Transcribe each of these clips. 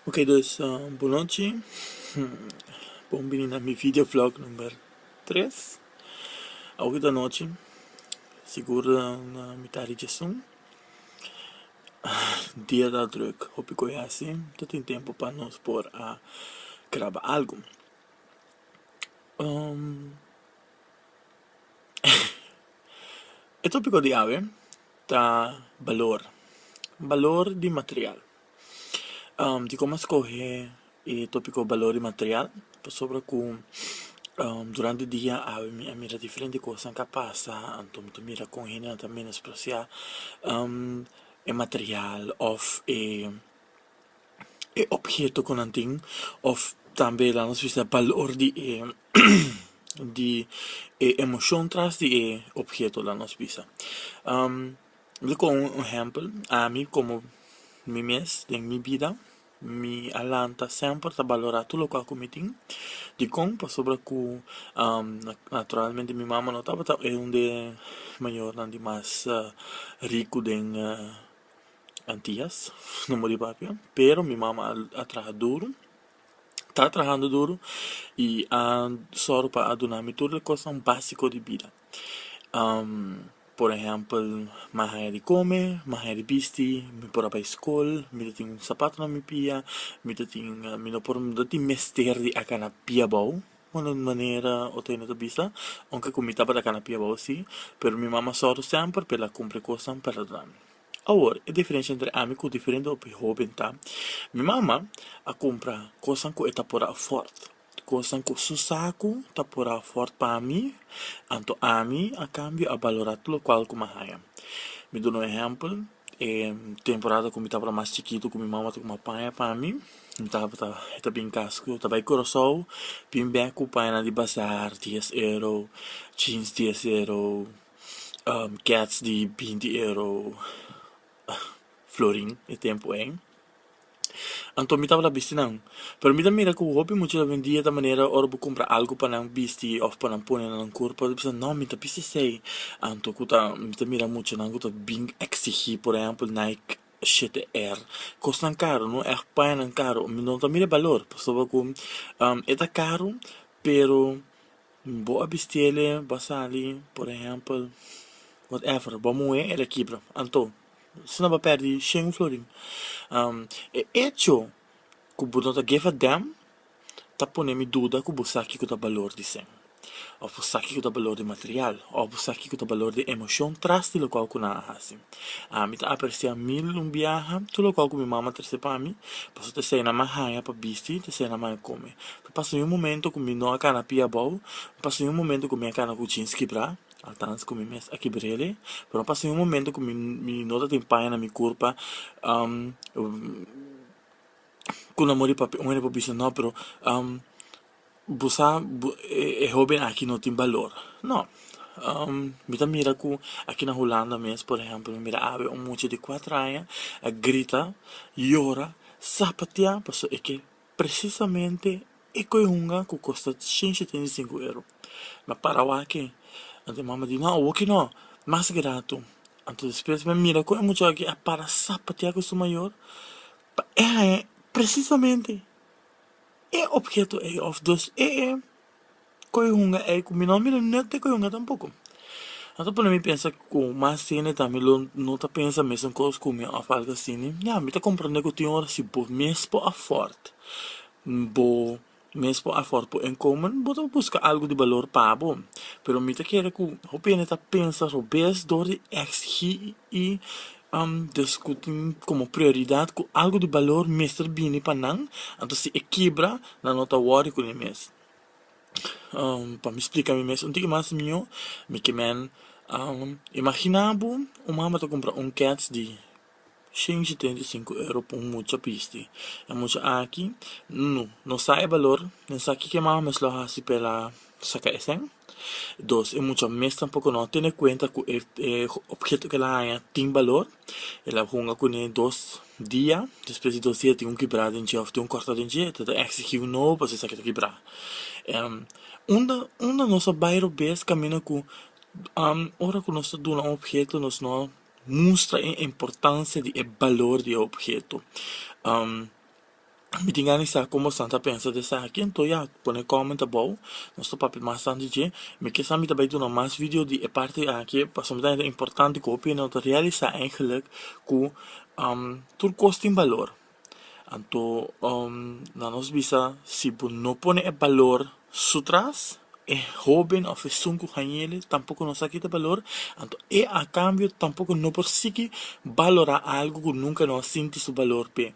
Ok dus bunochi bon bini na mi video vlog number tres awor ta nochi sigur mi ta richi esun dia ta druk hopi kos hasi no tin tempo pa nos por a graba algu e topiko di awe. Ta balor, balor di material dikon mas skohe e topiko balor di material pasobra ku durante e dia awe mi a mira diferente kosanan ka pasa anto mi ta mira kon hendenan ta menospresiá e material òf e. e opheto ku nan tin òf tambe e lanos bisa e balor di e di e emoshon tras di e opheto lanos bisa lo kon un ehèmpel ami komo mi mes den mi bida mi a lanta semper ta balorá tur loke ku mi tin dikon pasobra ku naturalmente mi mama no tabata e un de mayornan di mas riku den Antias no muri papia pero mi mama a traha duru ta trahando duru y a sor pa a duna mi tur e cosnan basico di bida por ehempel mi a haya di come mi a haya di bisti mi por a bai school mi ta tin sapatonan mi pia mi ta tin mi no por no tin mester di a cana pia abao Bueno den manera Otene ta bisa, aunke ku mi tabata kana pia bou si, pero mi mama sòru semper pa el a kumpli kosnan pa Radami. Awor, e diferensha entre ami ku diferente hopi hóben ta, mi mama a kumpra kosnan ku e ta por afòrt, kosnan ku su sa ku ta por afòrt pa mi, anto ami a kambio a balorá tur lokual ku mi a haña. Mi duna un ehèmpel. E temporada ku mi tabata mas chikitu ku mi mama ta kuma paña pa mi mi tabata e ta bin kas ku ta bai Curaçao bin bek ku paña nan di bazar dies euro jeans dies euro kets di binti euro florin e tempu en Anto mi tabata bisti nan. Pero mi ta mira ku hopi mucha hobendia ta manera ora bo kumpra algu pa nan bisti òf pa nan pone na nan kurpa bo ta bisa nò mi ta bisti esei. Anto ku ta mi ta mira muchanan ku ta bin eksigí por ehèmpel Nike shtr. Kosnan karu no e paña nan karu mi no ta mira e balor pasobra ku e ta karu pero. Bo a bisti el e bo a sali, por ehèmpel, whatever, bo a muhé el e kibra. Anto, asina bo a pèrdí shen florin. E echo ku bo no ta give a damn ta pone mi duda ku bo sa kiko ta balor di shen, òf bo sa kiko ta balor di material, òf bo sa kiko ta balor di emoshon tras di lokal ku nan a hasi. Ami ta apresiá mil un biaha tur lokal ku mi mama a trese pa mi, pasobra ta esei nan mi a haña pa bisti, ta esei nan mi a haña kome. N pasa un momento ku mi no a kana pia abou, N pasa un momento ku mi a kana ku jeans kibrá, altans ku mi mes a kibr'el, pero mi pasa un momento ku mi no ta tin paña na mi kurpa, ku nan por di papia, un hende por bisa no pero bo sa e hóben aki no tin balor, no, mi ta mira ku aki na Hulanda mes por ehèmpel mi mira awe un mucha di kuater aña a grita, yora, sapatia, pasobra e ke Presisamente e koe hunga ku kosta shenshi treinta i sinku euro. M'a para wak e. Anto e mama di, Nò, awoki nò, mas gratu. Anto despues m'a mira kon e muchá aki a para sapatia ku su mayor, pa e haña presisamente e opheto ei òf dos e e. Cu e hunga ey cu mi no a mira no te cu e hunga tampoco a ta pone mi pensa cu mas sene ta mi lo no ta pensa mesun cos cu mi of algo asi ne ya mi ta comprende cu tin ora si bo mes por afort bo mes por afort por inkomen bo ta busca algo di balor pa bo pero mi ta kere cu hopi hende ta pensa robes door di exigi y a diskutí komo prioridat ku algu di balor mester bini pa nan, anto si e kibra nan no ta wòri ku ne mes. Pa mi splika mi mes un tiki mas mihó, mi kimen imaginá bo un mama ta kumpra un kèts di shinchi treinta i sinku euro pa un mucha pisti, e mucha aki no sa e balor, no sa kiko e mama mes lo hasi pa e la saka esei. Dos, e mucha mes tampoco no a tene cuenta cu e obheto cu el a haña tin balor. El a hunga cune dos dia, despues di dos dia tin un kibra den dje of tin un corta den dje, ta ta exigi un nobo pasobra esaki ta kibra. Unda, unda nos a bai robes caminda cu ora cu nos ta duna un obheto nos no a mustra e importancia di e balor di e obheto. Mi tin gana di sa como esnan ta pensa di esaki, anto ya, pone comment abou, nos ta papia mas tanto di dje. Mi ke sa mi ta bai duna mas video di e parti aki, pasobra mi ta hende importante cu hopi hende no ta realisa eigenlijk cu tur cos tin balor. Anto, nan nos bisa, si bo no pone e balor Su tras, e hóben òf esun ku hañ'é tampoko no sa kita balor, anto e a kambio tampoko no por sigui balorá algu ku nunka no a sinti su balor p'e.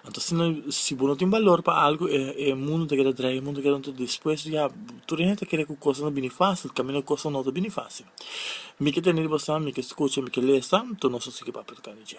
Anto asina si bo no tin balor pa algu e e mundu ta keda draia, e mundu ta keda anto despues ya tur hende ta kere ku kosnan ta bini fásil kaminda kosnan no ta bini fásil. Mi ke tene di bo sa, mi ke skucha, mi ke lesa, anto nos a sigui papia ta kende dje.